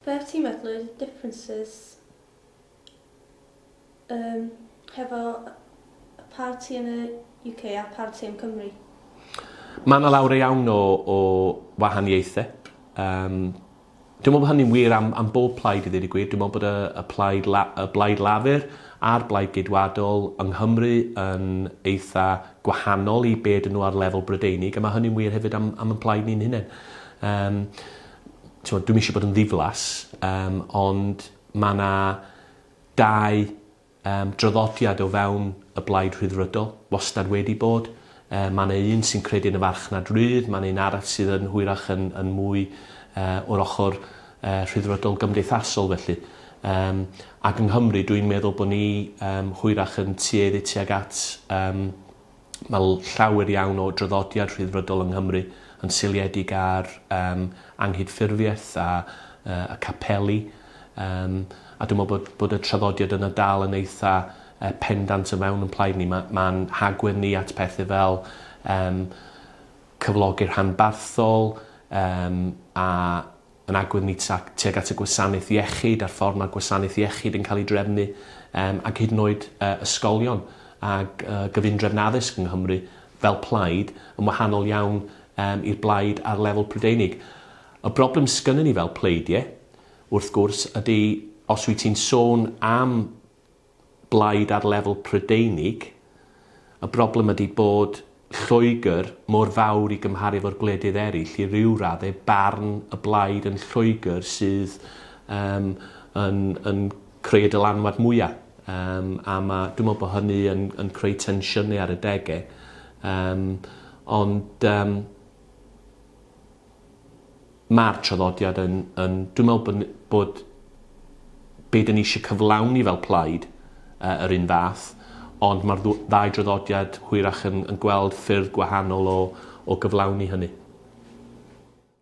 Fe wt ti'n meddwl y differences yym hefo y parti yn y UK a parti yn Cymru? Ma' 'na lawer iawn o o wahaniaethe. Yym. Dwi me'wl bo' hynny'n wir am am bob plaid i ddeud y gwir dwi me'wl bod y y plaid La- y Blaid Lafur a'r Blaid Geidwadol yng Nghymru yn eitha gwahanol i be' ydyn n'w ar lefel Brydeinig a ma' hynny'n wir hefyd am am 'yn plaid ni'n hunen. Yym. t'mod dwi'm isio bod yn ddiflas yym ond ma' 'na dau yym draddodiad o fewn y Blaid Rhyddfrydol, wastad wedi bod. Yy ma' 'na un sy'n credu yn y farchnad rydd ma' 'na un arall sydd yn hwyrach yn yn mwy yy o'r ochor yy rhyddfrydol gymdeithasol felly. Yym ac yng Nghymru dwi'n meddwl bo' ni yym hwyrach yn tueddu tuag at yym mae llawer iawn o draddodiad Rhyddfrydol yng Nghymru yn seiliedig ar um, anghydffurfiaeth a, uh, a capeli. Um, a dwi'n meddwl bod, bod y traddodiad yna dal yn eitha uh, pendant o fewn yn plaid ni. Mae'n ma, ma hagwedd ni at pethau fel um, cyflogi'r hanbarthol um, a yn agwedd ni tuag at y gwasanaeth iechyd a'r ffordd mae gwasanaeth iechyd yn cael ei drefnu um, ac hyd yn oed uh, ysgolion ac uh, gyfundrefn addysg yng Nghymru fel plaid yn wahanol iawn um, i'r blaid ar lefel Prydeinig. Y broblem sgynnyn ni fel pleidiau, wrth gwrs, ydy os wyt ti'n sôn am blaid ar lefel Prydeinig, y broblem ydi bod Lloegr mor fawr i gymharu efo'r gwledydd eraill, i ryw radde barn y blaid yn Lloegr sydd um, yn, yn creu y dylanwad mwyaf. Um, a ma, dwi'n meddwl bod hynny yn, yn creu tensiynau ar y degau. Um, ond um, Mae'r traddodiad yn, yn, dwi'n meddwl bod, bod be dyn ni eisiau cyflawni fel plaid uh, yr un fath, ond mae'r ddau draddodiad hwyrach yn, yn gweld ffyrdd gwahanol o, o gyflawni hynny.